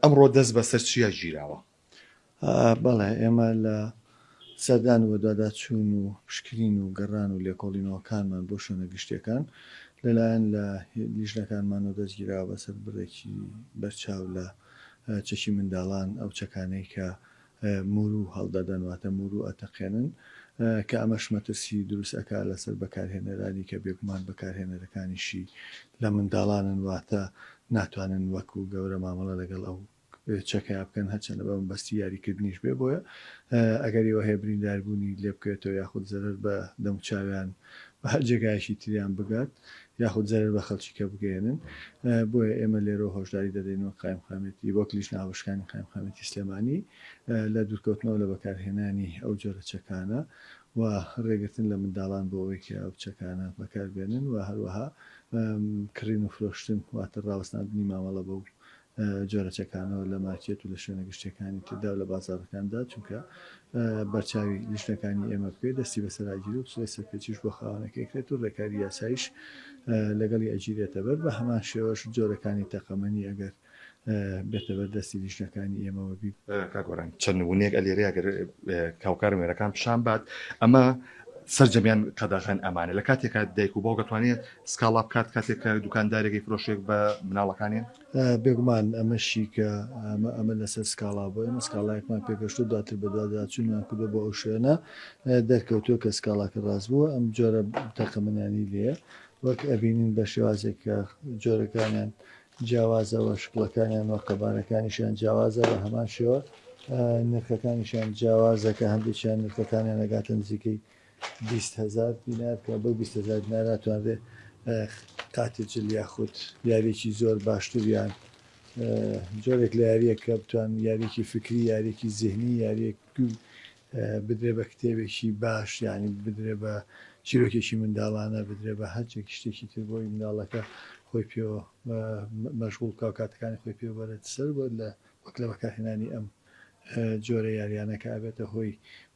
ئەمڕۆ دەست بەسەر چیا گیراوە؟ بەڵێ ئێمە لە سەردان و بەدواداچوون و پشکنین و گەڕان و لێکۆڵینەوەکانمان بۆ شوێنە گشتییەکان لەلایەن لە لیژنەکانمانەوە دەستگیراوە بەسەر بڕێکی بەرچاو لە چەکی منداڵان ئەو چەکانەی کە موروو هەڵدەدەن واتە موروو ئەتەقێنن کە ئەمەش مەترسی دروست ئەکا لەسەر بەکارهێنەرانی کە بێگومان بەکارهێنەرەکانیشی لە منداڵانن واتە ناتوانن وەکو گەورە مامەڵە لەگەڵ ئەو چەکەیا بکەن هەرچەندە بە مەبەستی یاری کردنیش بێ بۆیە ئەگەری ئەوە هەیە برینداربوونی لێبکەوێتەوە یاخود زەرەر بە دەموچاویان بە هەر جێگایەکی تریان بگات یاخود زەرەر بە خەڵکی کە بگەیەنن، بۆیە ئێمە لێرەوە هۆشداری دەدەین وەک قایمقامیەتی وەک لیژنە هاوبەشەکانی قایمقامیەتی سلێمانی لە دوورکەوتنەوە لە بەکارهێنانی ئەو جۆرە چەکانە و رێگرتن لە منداڵان بۆ ئەوەی کە ئەو چەکانە بەکاربێنن و هەروەها کڕین و فرۆشتن واتە راوەستاندنی مامەڵە بەو جۆرە چەکانەوە لە مارکێت و لە شوێنە گشتییەکانی تردا و لە بازاڕەکاندا، چونکە بەرچاوی لیژنەکانی ئێمە بکەوێت دەستی بەسەراگیرێت و سڵی سەرپێچیش بۆ خاوەنەکەی ئەکرێت و رێکاری یاساییش لەگەڵی ئەگیرێتەبەر، بە هەمان شێوەش جۆرەکانی تەقەمەنی ئەگەر بێتە بەر دەستی لیژنەکانی ئێمەوە. کاک گۆران چەند ونەیەک ئەلێرێ ئەگەر هاوکارم وێنەکان پیشان بات، ئەمە سەرجەمیان قەدەغەن ئەمانە لە کاتێکا دایک و باوک ئەتوانێت سکاڵا بکات کاتێک کە دوکاندارێک یفرۆشێک بە مناڵەکانێ؟ بێگومان ئەمە شیکە ئەمە ئەمە لەسەر سکاڵا بۆ ئێمە سکاڵایەکمان پێگەشتو دواتر بەدواداچونمان کردو بۆ ئەو شوێنە دەرکەوتوە کە سکاڵاکە راست بوە ئەم جۆرە تەقەمەنیانی لێیە وەک ئەبینین بە شێوازێک کە جۆرەکانیان جیاوازە وە شکڵەکانیان وە قەبارەکانیشیان جیاوازە بە هەمان شێوە نرخەکانیشیان جیاوازە کە هەندێکیان نرخەکانیان ئەگاتە نزیکەی بیست هەزار دینار بکات بەو بیست هەزار دینارە ئەتوانرێ قاتجل یاخود یاریەکی زۆر باشتر یان جۆرێک لە یاریەک کە بتوان یاریەکی فکری یاریەکی زیهنی یاریەک بدرێ بە کتێبێکی باش یانی بدرێ بە چیرۆکێکی منداڵانە بدرێ بە هەرچێک شتێکی تر بۆی منداڵەکە خۆی پێوە مەشغول کا و کاتەکانی خۆی پێوەرێت سەر بۆ لە وەک لە بەکارهێنانی ئەم جۆرە یاریانەکە ئەبێتە هۆی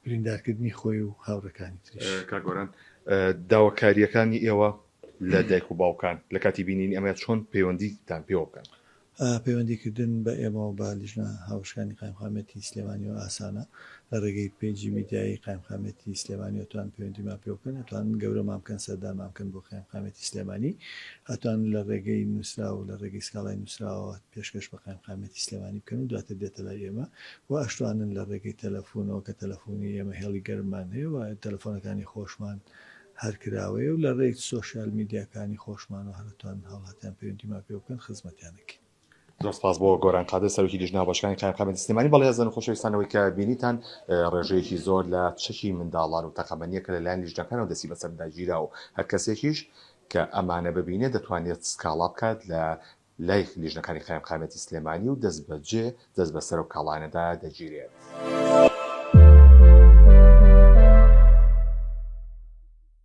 بریندارکردنی خۆی و هاوڕێکانی تریش. کاک گۆران داواکارییەکانی ئێوە لە دایک و باوکان لە کاتی بینینی ئەمەیە چۆن پەیوەندیتان پێوە بکەن؟ پەیوەندی کردن بە ئێمە و بە لیژنە هاوبەشەکانی قایمقامیەتی سلێمانیەوە ئاسانە، لە ڕێگەی پەیجی میدیایی قایمقامیەتی سلێمانی ئەتوان پەیوەندیمان پێوە بکەن، ئەتوان گەورەمان بکەن سەردانمان بکەن بۆ قایمقامیەتی سلێمانی، ئەتوان لە ڕێگەی نوسراو لە ڕێگەی سکاڵای نوسراوەوە پێشکەش بە قایمقامیەتی سلێمانی بکەن و دواتر بێتە لای ئێمە و ئەشتوانن لە رێگەی تەلەفونەوە کە تەلەفونی ئێمە هێڵی گەرممان هەیە و تەلەفۆنەکانی خۆشمان هەر کراوەیە و لە رێی سۆشیال میدیاکانی خۆشمانەوە هەر ئەتوانن هاوڵاتیان پەیوەندیمان پێوە بکەن خزمەتیان ئەکەین. زۆر سپاس بۆ گۆران قادر سەرۆکی لیژنە هاوبەشەکانی قایمقامیەتی سلێمانی بەڵێزن خۆشەویستان ئەوەی کە بینیتان رێژەیەکی زۆر لە چەکی منداڵان و تەقەمەنیە کە لەلایەن لیژنەکانەوە دەستی بەسەردا گیراوە و هەرکەسێکیش کە ئەمانە ببینێت دەتوانێت سکاڵا بکات لە لای لیژنەکانی قایمقامیەتی سلێمانی و دەستبەجێ دەست بەسەر ئەو کاڵایانەدا دەگیرێت.